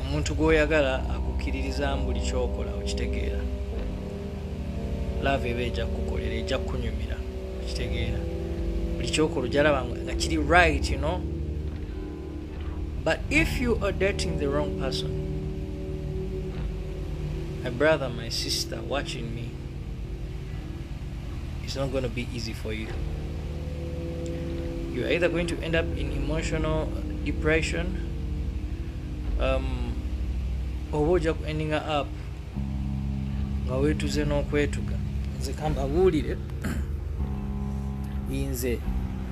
omuntu gwoyagala akukkiririzamu buli kyokola okitegeera laava eba eja kukukolera eja kukunyumira okitegeera buli kyokola ojalaba nga kiri right you know? but if you are dating the wrong person my brother my sister watching me it's not going to be easy for you you're either going to end up in emotional depression um, oba ojja ku ending up nga wetuze n'okwetuga nze kambabuulire nze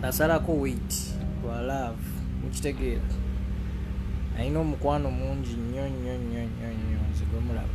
nasalako weit lwa love mukitegeera alina omukwano mungi nnyo nnyo nnyo nnyo nnyo nze gwemulaba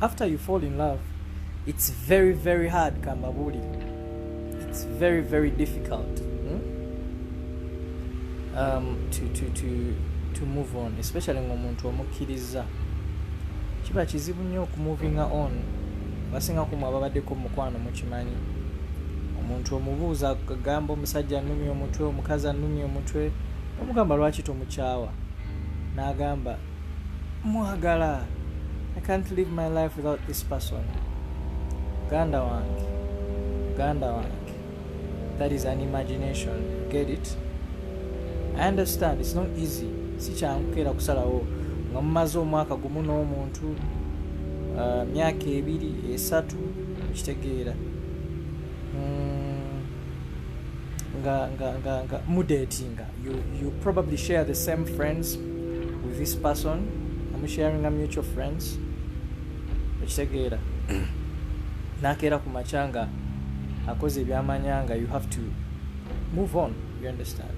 after you fall in love it's very very hard kambabuulire it's very very difficult hmm? um, to, to, to, to move on especially ngaomuntu omukkiriza kiba kizibu nnyo okumuvinga on basinga kumu ababaddeko mukwano mukimanyi omuntu omubuuza agamba omusajja anumya omutwe omukazi anumya omutwe omugamba lwaki tomukyawa n'agamba mwagala i can't live my life without this person muganda wange muganda wange that is an imagination get it i understand it's not easy si kyangu keera kusalawo nga mumaze omwaka gumu n'omuntu uh, myaka ebiri esatu okitegeera mm, nga, nga, nga, nga mudetinga You, you probably share the same friends with this person. I'm sharing a mutual friends. Ekitegeera. Nakeera ku makya nga akoze ebyamanya nga you have to move on. You understand?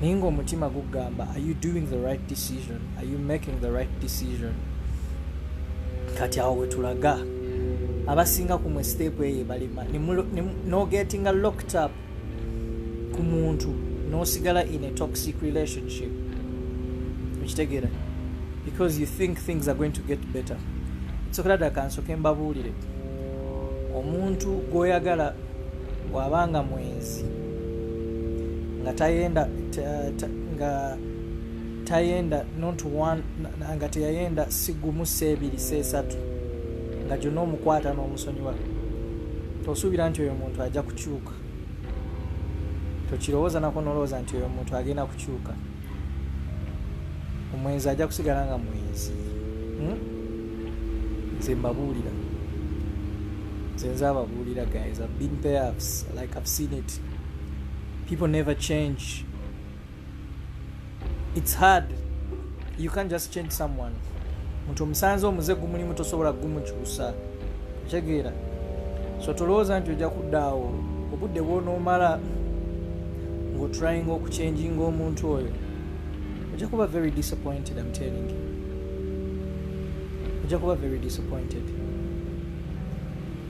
naye ngaomutima gugamba are you doing the right decision are you making the right decision kati awo wetulaga abasinga kumwe step eyo balima nogetinga locked up ku muntu nosigala in a toxic relationship okitegeera because you think things are going to get better sokera dda kansoke mbabuulire omuntu gwoyagala bw'aba nga mwenzi nga tayenda nga tayenda not one nga teyayenda sigumu seebiri seesatu nga gyonna omukwata n'omusonyiwa tosuubira nti oyo muntu ajja kukyuka tokirowooza nako nolowooza nti oyo muntu agenda kukyuka omwenzi ajja kusigala nga mwenzi hmm? nze mbabuulira nze nze ababuulira guys i've been there like i've seen it people never change it's hard you can't just change someone muntu omusanze omuze gumulimu tosobola gumukyusa okitegeera so tolowooza nti ojja kuddaawo obudde bwonoomala ngaotraying okuchenjinga omuntu oyo ojja kuba very disappointed am telling you ojja kuba very disappointed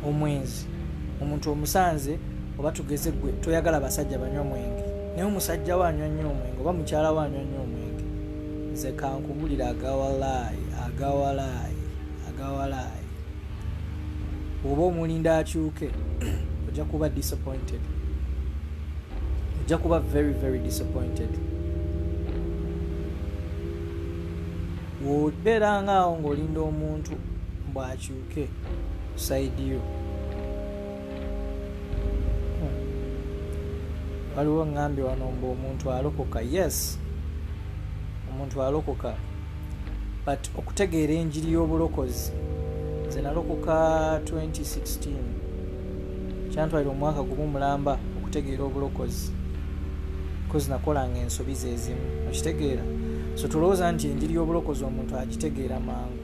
omwenzi omuntu omusanze oba tugeze gwe toyagala basajja banywa mwenge naye omusajja wanywa nnyo omwenge oba mukyala wanywa nnyo omwenge nze kankubulira agawalaayi agawalaayi agawalaayi oba omulinda akyuke ojja kuba disappointed ojja kuba very very disappointed wobeera nga awo ng'olinda omuntu mbwakyuke saidiyo waliwo ŋŋambye wano mbu omuntu alokoka yes omuntu alokoka but okutegeera enjiri y'obulokozi nze nalokoka 2016 kyantwalira omwaka gumu mulamba okutegeera obulokozi kozi nakolanga ensobi zezimu okitegeera so tulowooza nti enjiri y'obulokozi omuntu agitegeera mangu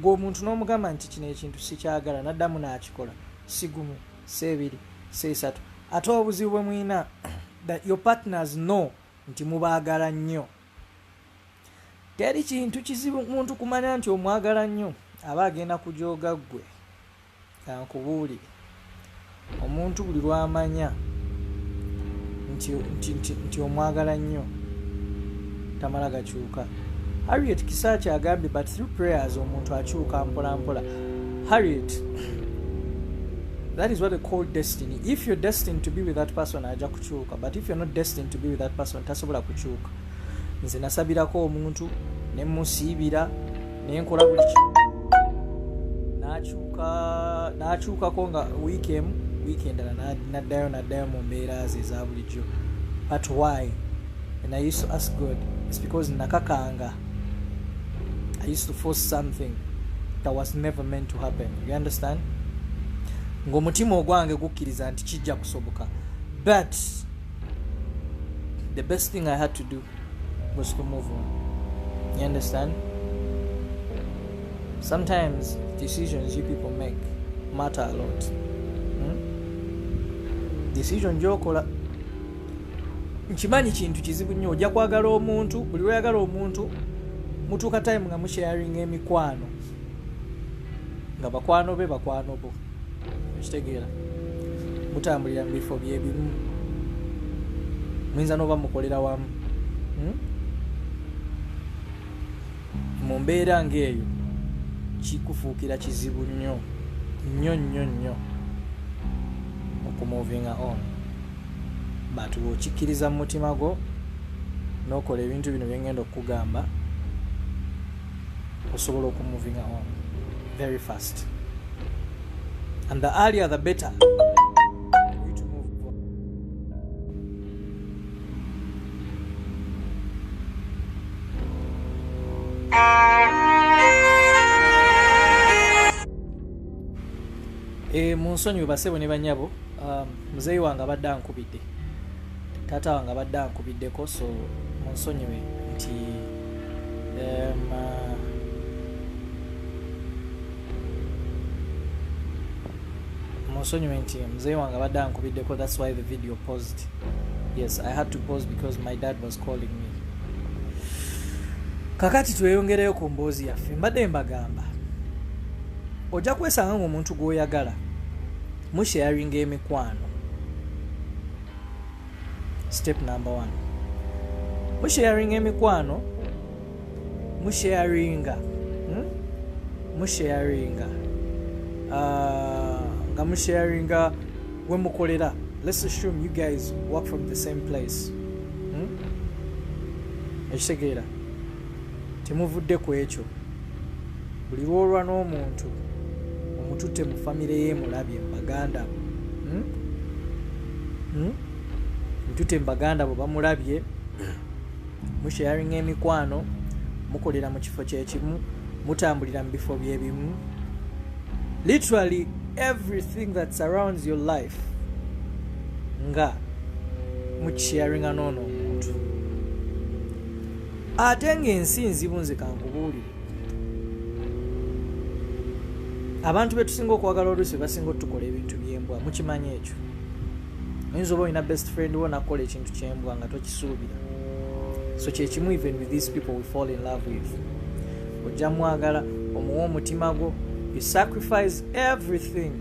gwe omuntu n'omugamba nti kino ekintu sikyagala naddamu n'akikola sigumu seebiri seesatu ate obuzibu bwe mulina that your partners know nti mubaagala nnyo teri kintu kizibu muntu kumanya nti omwagala nnyo aba agenda kujooga ggwe Kankubuulire, omuntu buli lw'amanya nti omwagala nnyo tamala gakyuka. Harriet Kisaakyi agambye but through prayers omuntu akyuka mpolampola. Harriet, that is what they call destiny. If you're destined to be with that person, aja kukyuka. But if you're not destined to be with that person, tasobola kukyuka. nze nasabirako omuntu nemusiibira nenkola buli kimu nakyukako nga wiiki emu wiiki endala naddayo naddayo mu mbeera ze eza bulijjo but why and i used to ask god its because nakakanga i used to force something that was never meant to happen you understand ngaomutima ogwange gukkiriza nti kijja kusoboka but the best thing i had to do was to move on you understand sometimes decisions you people make matter a lot hmm? decision gyokola nkimanyi kintu kizibu nnyo ojja kwagala omuntu buli lweyagala omuntu mutuuka time nga musharinga emikwano nga bakwano be bakwano bo ekitegeera mutambulira mu bifo byebimu muyinza noba mukolera wamu hmm? mu mbeera ngaeyo kikufuukira kizibu nnyo nnyo nnyo nnyo okumuvinga on but wokikkiriza mu mutima gwo nokola ebintu bino byengenda okukugamba osobola okumuvinga on very fast and the earlier the better eh, munsonyiwe basebo ne banyabo um, muzeeyi wange abadde ankubidde taata wange abadde ankubiddeko so munsonyiwe nti um, munsonyiwe nti muzeeyi wange abadde ankubiddeko thats why the video posed yes i had to pose because my dad was calling me kakati tweyongereyo ku mboozi yaffe mbadde mbagamba ojja kwesanga ngaomuntu gwoyagala musharinga emikwano step number one musharinga emikwano musharinga hmm? musharinga uh, nga musharinga wemukolera let's assume you guys work from the same place hmm? ekitegeera hmm? Temuvudde ku ekyo, buli lw'olwa n'omuntu omututte mu famire ye mulabye mu baganda bo hmm? hmm? mututte mu baganda bo bamulabye musharinga emikwano mukolera mu kifo kyekimu mutambulira mu bifo byebimu literally everything that surrounds your life nga mukisharinga noono omuntu ate ng'ensi nzibu nze kankubuulire abantu betusinga okwagala oluusi bebasinga otukola ebintu byembwa mukimanyi ekyo oyinza oba olina best friend wo nakukola ekintu kyembwa nga tokisuubira so kyekimu even with these people we fall in love with ojja mwagala omuwa omutima gwo you sacrifice everything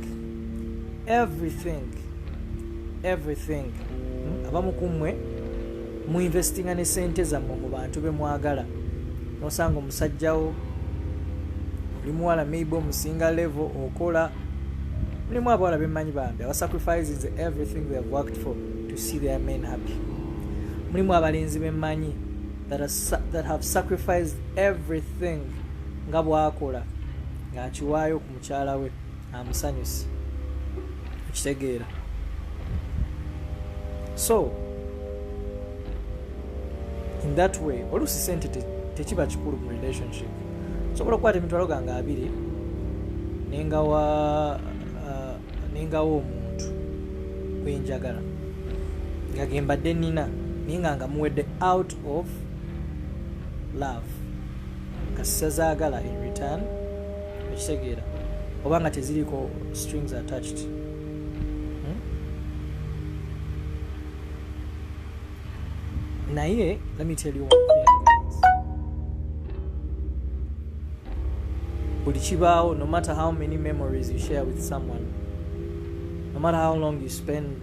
everything everything hmm? abamu kummwe mu investinga ne sente zammwe mu bantu be mwagala nosanga omusajjawo oli muwala maybe omusinga level okola mulimu abawala bemanyi bambi aba sacrifices everything they have worked for to see their men happy mulimu abalenzi bemanyi that, that have sacrificed everything nga bwakola ngaakiwaayo ku mukyala we amusanyusi okitegeera so in that way oluusi sente tekiba kikulu mu relationship osobola okukwata emitwalo gange abiri nengawa uh, nengawa omuntu gwenjagala nga gembadde nina naye nga nga muwedde out of love kasisazagala in return okitegeera oba nga teziriko strings attached hmm? naye let me tell you one thing buli kibaawo no matter how many memories you share with someone no matter how long you spend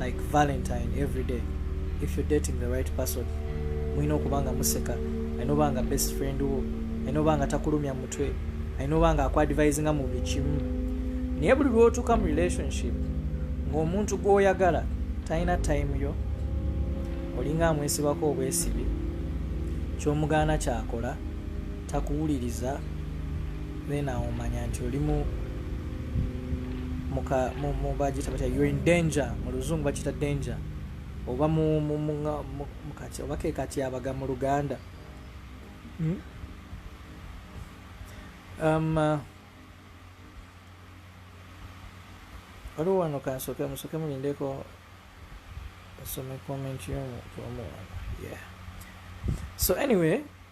like valentine every day if you're dating the right person mulina okuba nga museka alina oba nga best friend wo alina oba nga takulumya mutwe alina oba nga akuadvise nga mu bikimu naye buli lwotuuka mu relationship ng'omuntu gw'oyagala talina time yo olinga amwesibako obwesibi kyomugaana kyakola takuwuliriza then awo manya nti olimu mubagita batya you're in danger mu luzungu bakita danger oba mukati oba kekatyabaga mu luganda hmm? um, uh, waliwo wano kansoke musoke mulindeko asome comment yomuntu omuwana yeah so anyway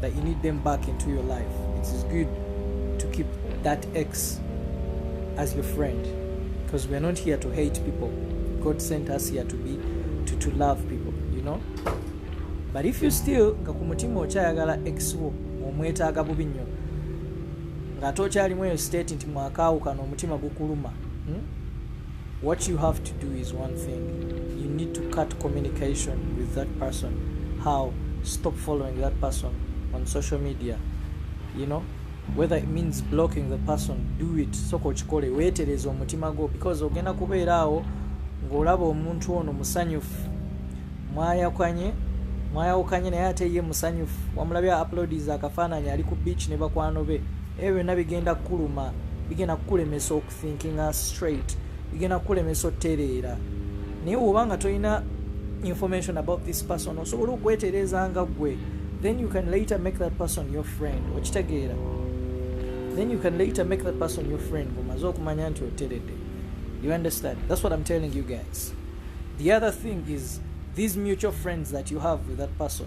that you need them back into your life it is good to keep that ex as your friend because we're not here to hate people god sent us here to be to, to love people you know but if you still nga ku mutima okyayagala ex wo omwetaaga bubi nnyo ng'ate okyalimu eyo state nti mwakaawukana omutima gukuluma hmm? What you have to do is one thing. You need to cut communication with that person. How? Stop following that person on social media. You know, whether it means blocking the person, do it. Soko chikole, wetereze omutima go because ogenda kubeera awo ng'olaba omuntu ono musanyufu mwayakwanye mwayawukanye naye ate ye musanyufu wamulabye uploadies akafaananyi ali ku beach ne bakwano be ebyo byonna bigenda kukuluma bigenda kukulemesa thinkinga straight bigenda kukulemesa otereera naye woba nga tolina information about this person osobola okwetereeza nga gwe then you can later make that person your friend okitegeera then you can later make that person your friend omaze okumanya nti oteredde you understand that's what i'm telling you guys the other thing is these mutual friends that you have with that person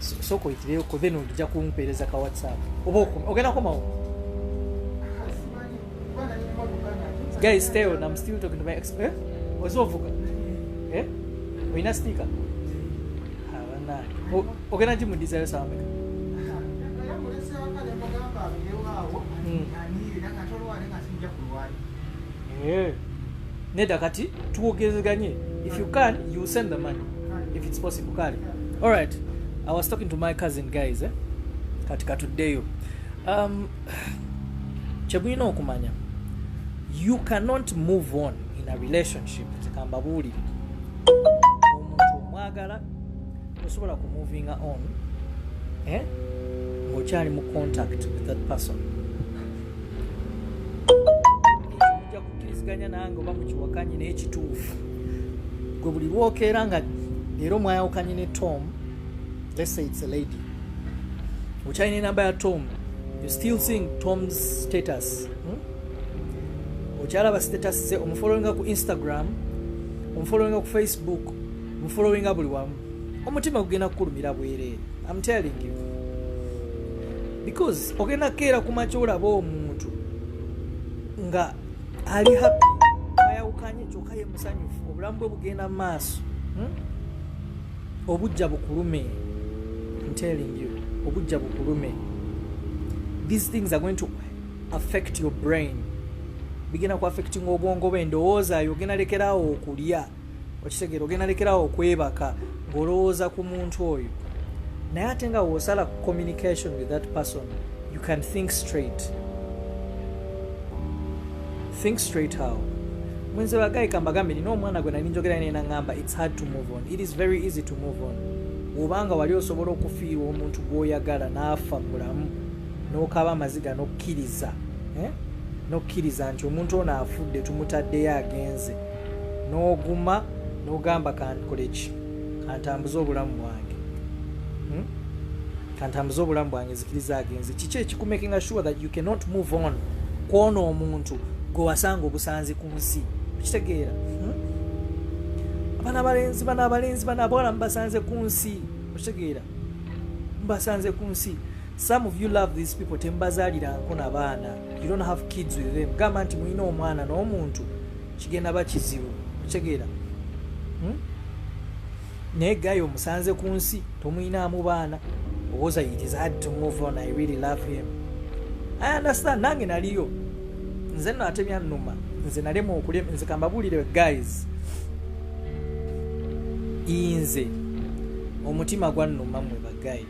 soko itireyo ko then ojja kumpeereza ka whatsapp oba ogenda komawo guys stay on i'm still talking to my ex eh? ozovuga eh? oyina sticker abana ogenda gimudizayo sameka mm. Eh. neda kati twogezeganye if you can you send the money if it's possible kale all right i was talking to my cousin guys eh? kati katuddeyo um, kyebulina okumanya you cannot move on in a relationship tekamba buulire omuntu omwagala osobola kumuvinga on eh? ngaokyali mu contact with that person kiriziganya nange oba mukiwakanye naye kituufu gwe buli lwokeera nga era omwayawukanye ne tom let's say it's a lady okyalina enamba ya tom you still seeing tom's status hmm? okyalaba status ze omufolowinga ku instagram omufolowinga ku facebook omufolowinga buli wamu omutima gugenda kukulumira bwereere am telling you because ogenda keera kumakya olaba omuntu nga ali happy ayawukanye kyoka ye musanyufu obulamu bwe bugenda mu maaso hmm? obujja bukulume I'm telling you obujja bukulume these things are going to affect your brain bigenda ku affecting obwongo bwe endowooza yo ogenda lekeraawo okulya okitegera ogenda lekerawo okwebaka ng'olowooza ku muntu oyo naye ate nga wosala ku communication with that person you can think straight think straight how mwenze bagayi kambagambe nina omwana gwe nali njogera naye nangamba its hard to move on it is very easy to move on obanga wali osobola okufiirwa omuntu gwoyagala n'afa mulamu n'okaba amaziga n'okkiriza eh? n'okkiriza nti omuntu ono afudde tumutaddeyo agenze n'oguma n'ogamba kankoleki kantambuze obulamu bwange hmm? kantambuze obulamu bwange nzikiriza agenze kiki ekikumakinga sure that you cannot move on kwona omuntu gwe wasanga obusanzi ku nsi okitegeera hmm? abana abalenzi bana abalenzi bana abawala mubasanze ku nsi okitegeera mubasanze ku nsi some of you love these people tembazaliranko nabaana you don't have kids with them gamba nti mulina omwana n'omuntu kigenda ba kizibu okitegeera hmm? naye gayo omusanze ku nsi tomuyinaamu baana owoza it is hard to move on i really love him i understand nange naliyo nze no ate byannuma nze nalema okulema nze kambabuulire guys inze omutima gwannuma mwe bagayi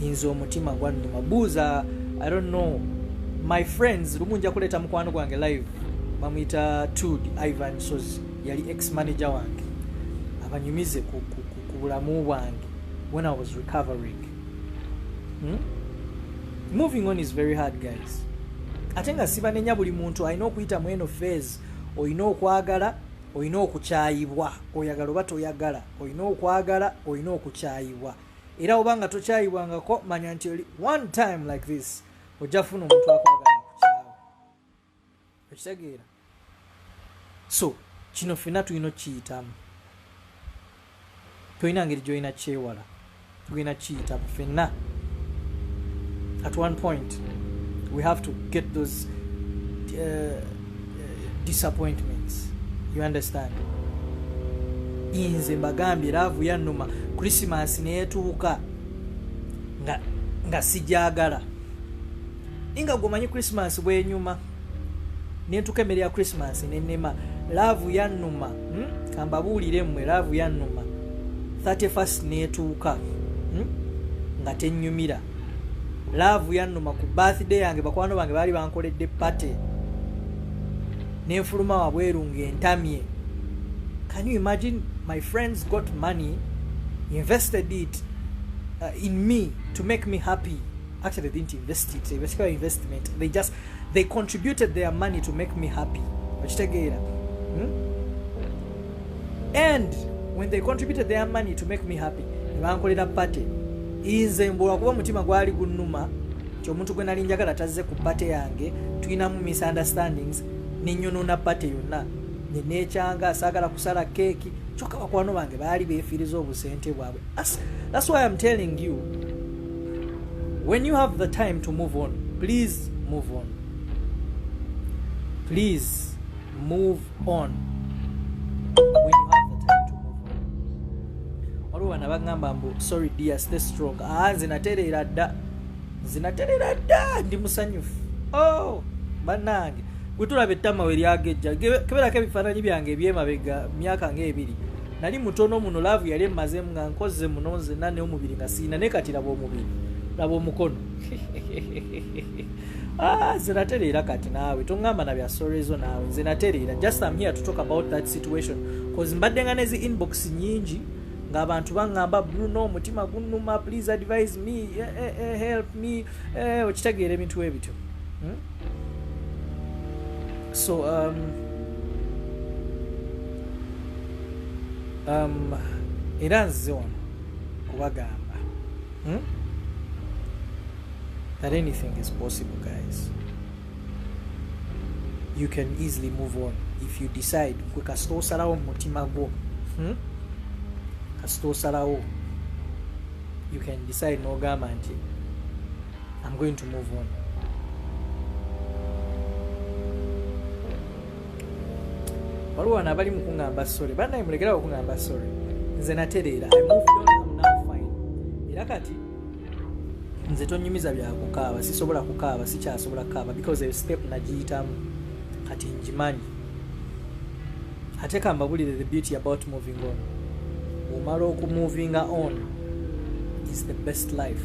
nze omutima gwannuma buuza i don't know my friends lumu nja kuleeta mukwano gwange live bamuyita tud ivan sozi yali ex manager wange abanyumize ku bulamu bwange when i was recovering hmm? moving on is very hard guys ate nga sibanenya buli muntu alina okuyita mu eno fase olina okwagala olina okukyayibwa oyagala oba toyagala olina okwagala olina okukyayibwa era oba nga tokyayibwangako manya nti oli one time like this ojja funa omuntu akwagala kukyawa okitegeera so kino fena tulina okukiyitamu tolina ngeri gyolina kyewala tugenda kiyita fenna at one point we have to get those uh, uh disappointments you understand inze mbagambye laavu yannuma krisimas neetuuka nga nga sijagala ninga gwomanyi krisimas bwenyuma nentuka emmere ya christmas nenema laavu yannuma hmm? kambabuulire mmwe laavu yannuma 31st netuuka hmm? nga tennyumira laavu yannuma ku birthday yange bakwano bange baali bankoledde pate nenfuluma wabweru ngaentamye can you imagine my friends got money invested it uh, in me to make me happy actually they didn't invest it they basically investment they just they contributed their money to make me happy okitegeera hmm? and when they contributed their money to make me happy nebankolera party inze mbula kuba omutima gwali gunuma nti omuntu gwe nali njagala tazze ku party yange tulinamu misunderstandings nenyonona party yonna nenekyanga saagala kusala keeki kyokka bakwano bange baali befiiriza obusente bwabwe that's why im telling you when you have the time to move on please move on please move on when you have the time to move on waliwo bana bagamba mbu sorry dear stay strong ah nze natereera dda nze natereera dda ndi musanyufu oh bannange gwe tulaba ettama we lyagejja keberako ebifaananyi byange ebyemabega myaka ngaebiri nali mutono muno laavu yali emmazemu nga nkozze muno nzenna naye omubiri nga siina naye kati laba omubiri laba omukono ah, nze natereera kati naawe toŋŋamba na bya sorezo naawe nze natereera just am here to talk about that situation bcause mbadde nga nezi inbox nyingi ng'abantu baŋŋamba bruno omutima gunnuma please advise me eh, eh, eh, help me okitegeera ebintu ebityo hmm? So, um, um, era nzize wano kubagamba hmm? that anything is possible guys you can easily move on if you decide gwe kasita osalawo mumutima gwo hmm? kasita osalawo you can decide nogamba nti I'm going to move on. waliwo wano abali mukuŋamba sorry banaye mulegerawo okuŋamba sorry nze natereera era kati nze tonyumiza byakukaaba sisobola kukaaba sikyasobola kukaaba because eyo step nagiyitamu kati njimanyi ate kambabulire the beauty about moving on omala okumuvinga on is the best life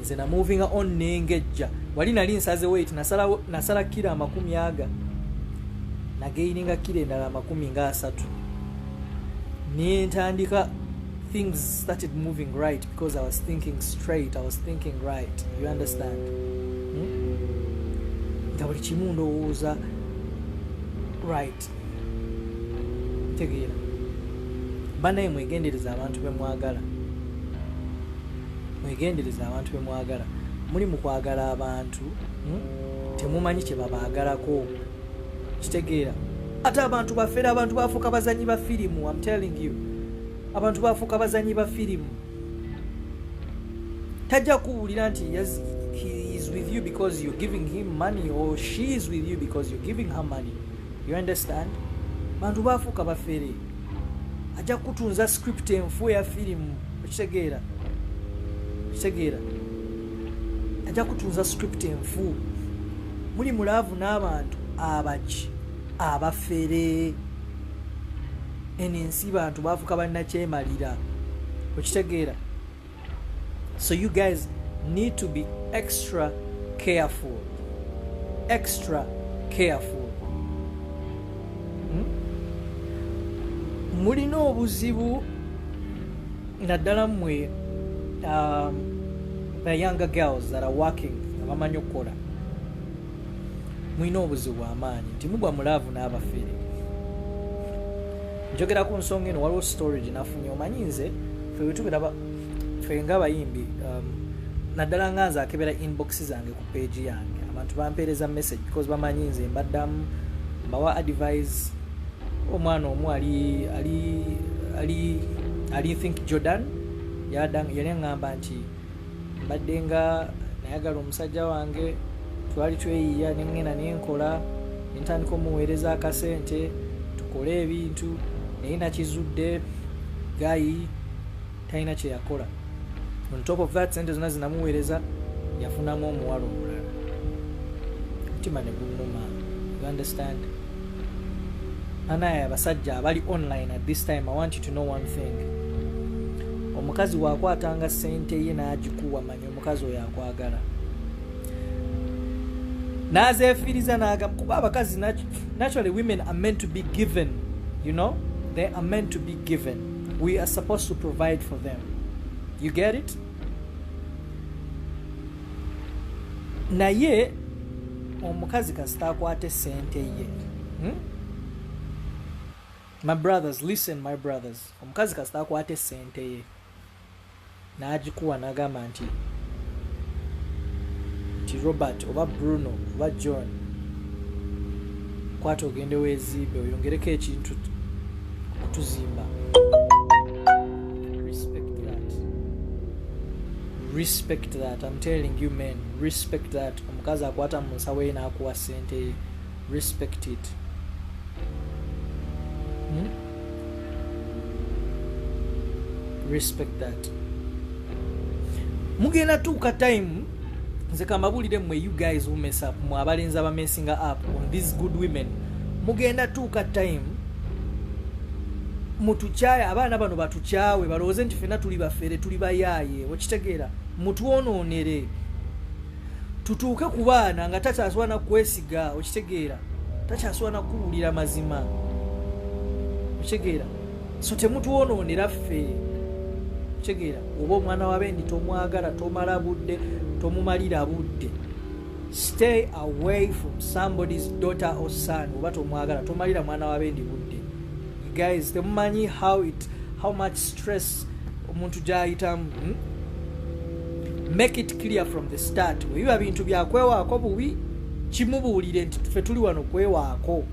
nze namuvinga on nengejja wali nali nsaze wait nasala, nasala kira amakumi aga nageininga kira endala amakumi nga asatu nentandika things started moving right because i was thinking straight i was thinking right you understand hmm? nga buli kimu ndowooza right tegeera banaye mwegendereza abantu bemwagala mwegendereza abantu bemwagala muli mukwagala abantu hmm? temumanyi kyebabagalako kitegeera ate abantu bafere abantu bafuuka bazanyi ba firimu am telling you abantu bafuuka bazanyi ba firimu tajja kuwulira nti he is with you because you're giving him money or she is with you because you're giving her money you understand bantu bafuuka bafere ajja kutunza script enfu eya firimu okitegeera okitegeera ajja kutunza script enfu muli mulaavu n'abantu abaki abafere eno ensi bantu bafuka bannakyemalira okitegeera so you guys need to be extra careful extra careful hmm? mulina obuzibu naddala mwe um, the younger girls that are working abamanyi okukola mulina obuzibu bwamaanyi nti mugwa mulaavu n'abafere njogera ku nsonga eno waliwo story gyenafunye omanyi nze febetubera fe nga abayimbi um, naddala nga nze akebera inbox zange ku page yange abantu bampeereza message because bamanyi nze mbaddamu mbawa advise omwana omu ali ali ali ali think jordan yali aŋŋamba nti mbadde nga nayagala omusajja wange twali tweyiya nengenda nenkola nentandika omuweereza akasente tukole ebintu naye nakizudde gayi talina kyeyakola on top of that sente zona zinamuweereza yafunamu omuwala omulala mutima neguluma you understand anaye abasajja abali online at this time i want you to know one thing omukazi wakwatanga sente ye nagikuwa manya omukazi oyo akwagala nazefiiriza nagamba kuba abakazi naturally women are meant to be given you know they are meant to be given we are supposed to provide for them you get it naye omukazi kasita akwate sente ye hmm? my brothers listen my brothers omukazi kasita akwate sente ye n'agikuwa n'agamba nti nti robert oba bruno oba john kwata ogende weezimbe oyongereko ekintu okutuzimba respect that I'm telling you men respect that omukazi akwata mu nsawo ye n'akuwa ssente ye respect it hmm? respect that mugenda tuuka time nze kambabuulire mwe you guys who mess up mwe abalenzi abamesinga up on these good women mugenda tuuka time mutukyaye abaana bano batukyawe balowooze nti fena tuli bafere tuli bayaaye okitegeera mutwonoonere tutuuke ku baana nga takyasobola nakukwesiga okitegeera takyasobola nakukuwulira mazima okitegeera so temutwonoonera ffe okitegeera oba omwana wabendi tomwagala tomala budde tomumalira budde stay away from somebody's daughter or son oba tomwagala tomalira mwana wabendi budde guys temumanyi how it how much stress omuntu gyayitamu hmm? make it clear from the start webiba bintu byakwewaako bubi kimubuulire nti fe tuli wano kwewaako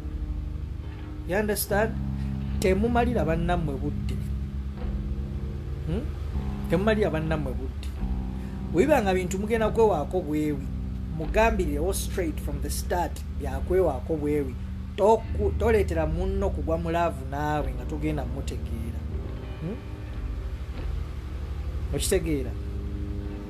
you understand temumalira bannammwe budde hmm? temumalira bannammwe budde webiba nga bintu mugenda kwewaako bwewi mugambirirewo straight from the start byakwewaako bwewi toleetera munno kugwa mulaavu naawe nga togenda mutegeera hmm? okitegeera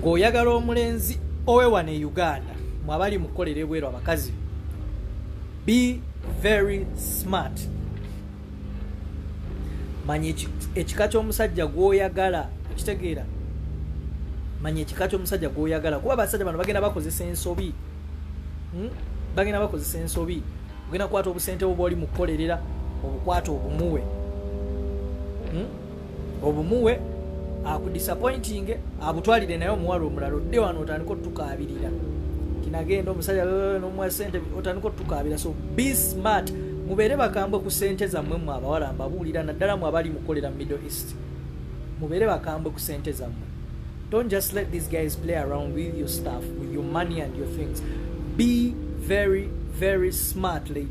ng'oyagala omulenzi owe wano e uganda mwabali mukukolera ebweru abakazi be very smart manya ekika ky'omusajja gw'oyagala okitegeera manya ekika ky'omusajja gw'oyagala kuba abasajja bano bagenda bakozesa ensobi hmm? bagenda bakozesa ensobi ogenda kukwata obusente bwo bwoli mukukolerera obukwata obumuwe hmm? obumuwe akudisappointinge abutwalire naye omuwala omulala odde wano otandika otukaabirira kinagenda omusajja nomuwa sente otandika otukaabira so be smart mubeere bakambwe ku sente zammwe mwe abawala mbabuulira naddala mwe abali mukolera mu middle east mubeere bakambwe ku sente zammwe don't just let these guys play around with your stuff with your money and your things be very very smart ladies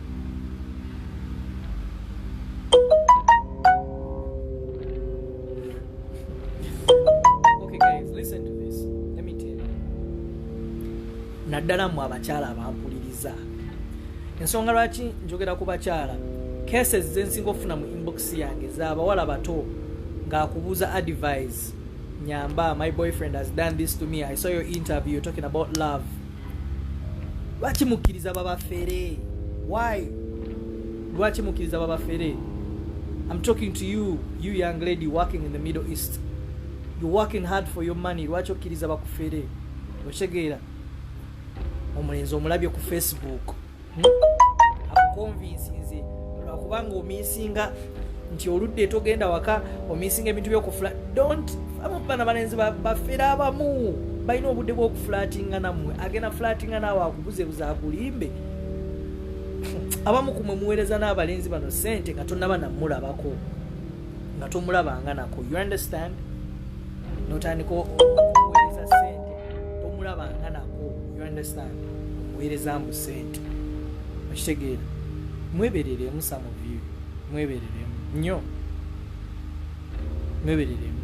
naddala mu abakyala abampuliriza ensonga lwaki njogera ku bakyala cases zensinga okufuna mu inbox yange zabawala bato ngaakubuuza advise nyamba my boyfriend has done this to me i saw your interview talking about love lwaki mukkiriza babafere why lwaki mukkiriza babafere im talking to you you young lady working in the middle east you working hard for your money lwaki okkiriza bakufere okitegeera omulenzi omulabye ku facebook akukonvinsinze lwakuba nga omisinga nti oludde togenda waka omisinga ebintu byokufula dont abana balenzi bafere abamu balina obudde bwokufulatinga namwe agenda fulatinga naawe akubuzebuza akulimbe abamu kumwe muweereza n'abalenzi bano sente nga tonaba namulabako nga tomulabanga nako you understand notandika okuwereza sente tomulabanga nako you understand omuwereza mbu sente okitegeera mwebereremu some of you mwebereremu nnyo mwebereremu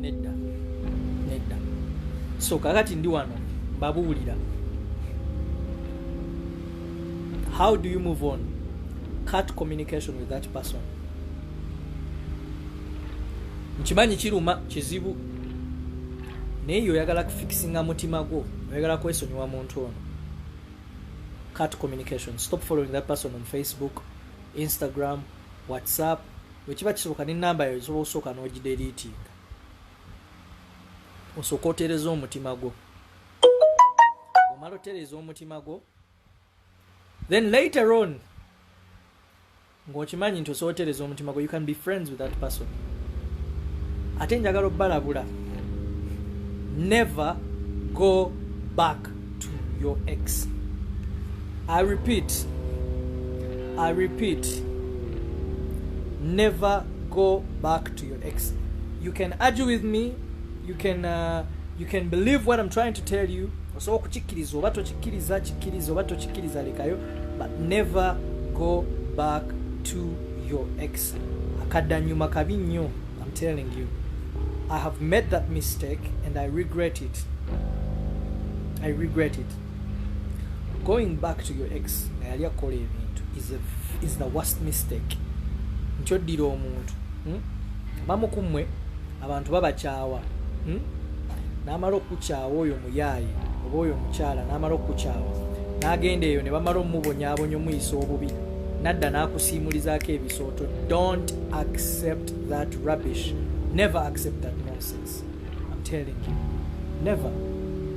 nedda nedda so kakati ndi wano mbabuulira how do you move on cut communication with that person nkimanyi kiruma kizibu naye yo oyagala kufikisinga mutima gwo oyagala kwesonyiwa muntu ono cut communication stop following that person on facebook instagram whatsapp wekiba kisoboka ne namba yo osobola okusooka n'ogideriitinga osooka otereza omutima gwo omala otereza omutima gwo then later on ng'okimanyi nti osobola otereza omutima gwo you can be friends with that person ate njagala obalabula never go back back to your ex i repeat i repeat never go back to your ex you can argue with me you can uh, you can believe what i'm trying to tell you osobola okukikkiriza oba tokikkiriza kikkiriza oba tokikkiriza lekayo but never go back to your ex akadanyuma kabi nnyo I'm telling you I have made that mistake and I regret it I regret it going back to your ex nga yali akola ebintu is the worst mistake nti oddira omuntu hmm? bamu ku mmwe abantu babakyawa hmm? n'amala okukyawa oyo muyaayi oba oyo omukyala n'amala okukyawa n'agenda eyo ne bamala omubonyabonya omuyisa obubi nadda n'akusiimulizaako ebisooto don't accept that rubbish never accept that nonsense I'm telling you never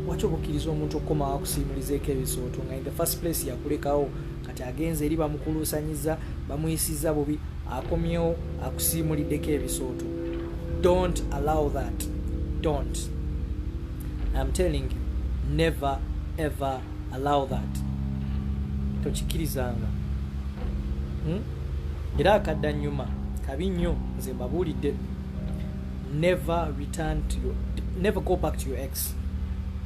waki obukkiriza omuntu okukomawo akusiimulizeeko ebisooto nga in the first place yakulekawo kati agenze eri bamukuluusanyiza bamuyisiza bubi akomyewo akusiimuliddeko ebisooto don't allow that don't I'm telling you never ever allow that tokikirizanga hmm? era akadda nyuma kabi nnyo nze mbabuulidde never return to your, never go back to your ex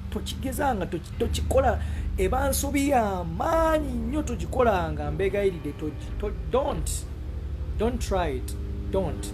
tokigezanga tokikola eba nsobi yamaanyi nnyo togikolanga mbegayiride don't don't try it don't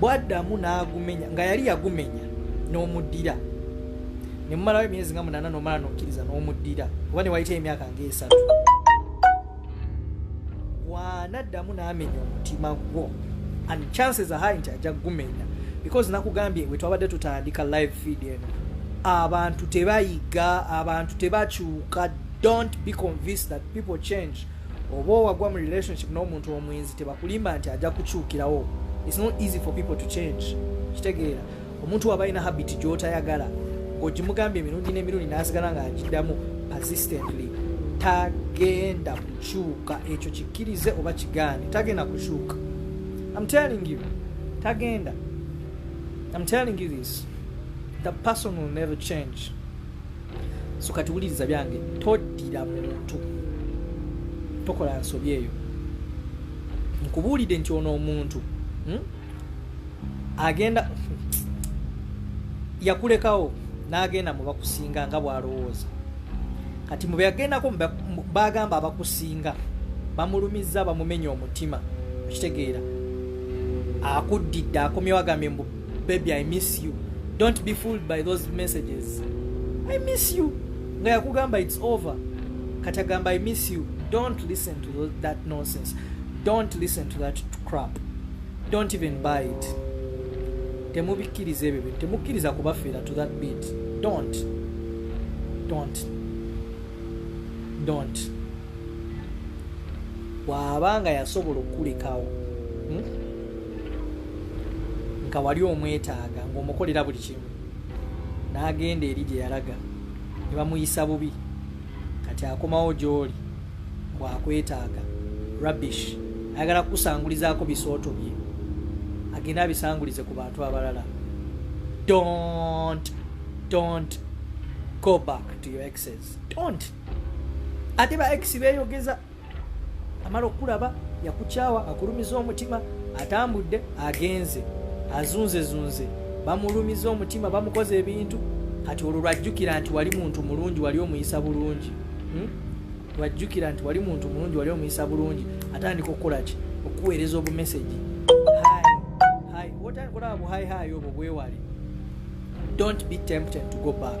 bwaddamu n'agumenya nga yali yagumenya n'omuddira ne mumalawo emyezi nga munaana n'omala n'okkiriza n'omuddira oba ne wayitayo emyaka ng'esatu bwanaddamu n'amenya omutima gwo and chances are high nti ajja kugumenya because nakugambye we twabadde tutandika live feed eno abantu tebayiga abantu tebakyuka don't be convinced that people change oba owagwa mu relationship n'omuntu omwenzi tebakulimba nti ajja kukyukirawo its not easy for people to change kitegeera omuntu waba alina habit gyotayagala ng'ogimugambye emirundi n'emirundi n'asigala nga agiddamu persistently tagenda kukyuka ekyo kikkirize oba kigaane tagenda kukyuka am telling you tagenda am telling you this the person will never change so kati wuliriza byange toddira muntu tokola nsobi eyo nkubuulidde nti ono omuntu hmm? agenda yakulekawo n'agenda mu bakusinga nga bw'alowooza kati mu beyagendako bagamba abakusinga bamulumizza bamumenya omutima okitegeera akuddidde akomyewo agambye mbu baby i miss you don't be fooled by those messages i miss you nga yakugamba its over kati agamba i miss you don't listen to those, that nonsense don't listen to that crap don't even buy it temubikkiriza ebyo bintu temukkiriza kubafiira to that bit don't don't don't waaba nga yasobola okukulekawo hmm? nga wali omwetaaga ngaomukolera buli kimu n'agenda eri gye yalaga ne bamuyisa bubi kati akomawo gy'oli bwakwetaaga rubbish ayagala kukusangulizaako bisooto bye agenda abisangulize ku bantu abalala don't don't go back to your exes don't ate ba ex beyogeza amala okulaba yakukyawa akulumiza omutima atambudde agenze azunzezunze bamulumiza omutima bamukoza ebintu kati olwo lwajjukira nti wali muntu mulungi wali omuyisa bulungi hmm? lwajjukira nti wali muntu mulungi wali omuyisa bulungi atandika okukolaki okuweereza obumesegi otandika olaba buhaihaayi obwo bwewale don't be tempted to go back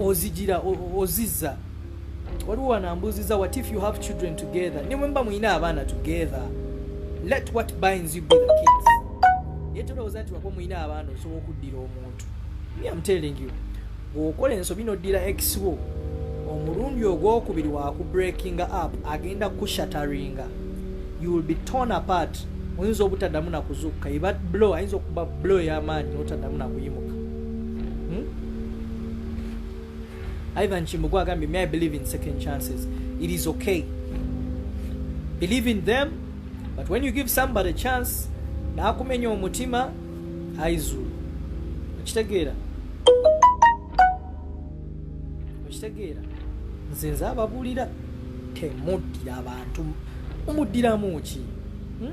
ozijira ozizza waliwo wanambuuziza what if you have children together ne mwemba mulina abaana together let what binds you be the kids naye tolowooza nti wako mulina abaana osobola okuddira omuntu me am telling you bwokola ensobi noddira ex wo omulundi ogwokubiri wakubreakinga up agenda kushataringa you will be torn apart oyinza obutaddamu nakuzukka iba blo ayinza okuba blo ey'amaanyi notaddamu nakuyimuka Ivan Chimbugu agambye may I believe in second chances it is okay believe in them but when you give somebody a chance nakumenya omutima aizulu okitegeera okitegeera nze nze ababuulira temuddira abantu mumuddiramu ki hmm?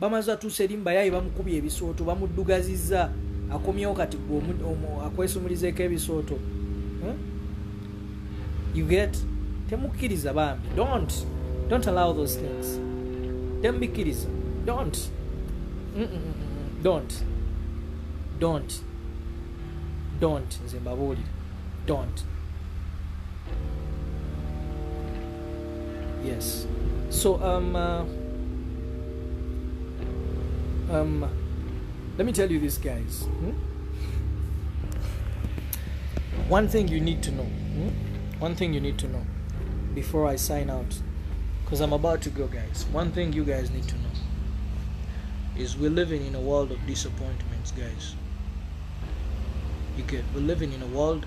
bamaze atuuse eri mubayaaye bamukubye ebisooto bamuddugazizza akomyewo kati gwe akwesumulizeeko ebisooto hmm? you get temukkiriza bambi don't don't allow those things temubikkiriza don't mm -mm -mm. don't don't don't nze mbabuulire don't yes so um, uh, um, let me tell you this guys hmm? one thing you need to know hmm? one thing you need to know before i sign out because i'm about to go guys one thing you guys need to know is we're living in a world of disappointments guys you get we're living in a world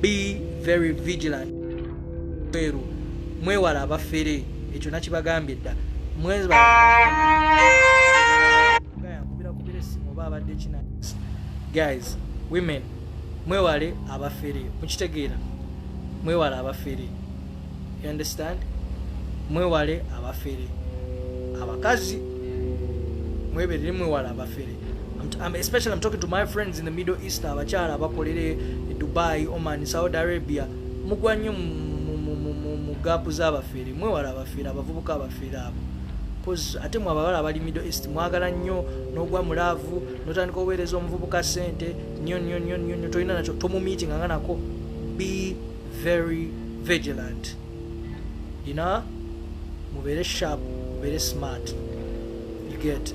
be very vigilant mweru mwewala abafere ekyo nakibagambye dda guys women mwewale abafere mukitegeera mwewale abafere you understand mwewale abafere abakazi mweberere mwewale abafere I'm, especially I'm talking to my friends in the Middle East abakyala abakolere Dubai, Oman, Saudi Arabia mugwa nnyo mu gaapu z'abafeere mwewala abafeere abavubuka abafeere abo coz ate mwe abawala abali Middle East mwagala nnyo n'ogwa mu laavu n'otandika oweereza omuvubuka ssente nnyo nnyo nnyo nnyo nnyo tolina nakyo tomumiitinga nga nako be very vigilant ina mubeere sharp mubeere smart you get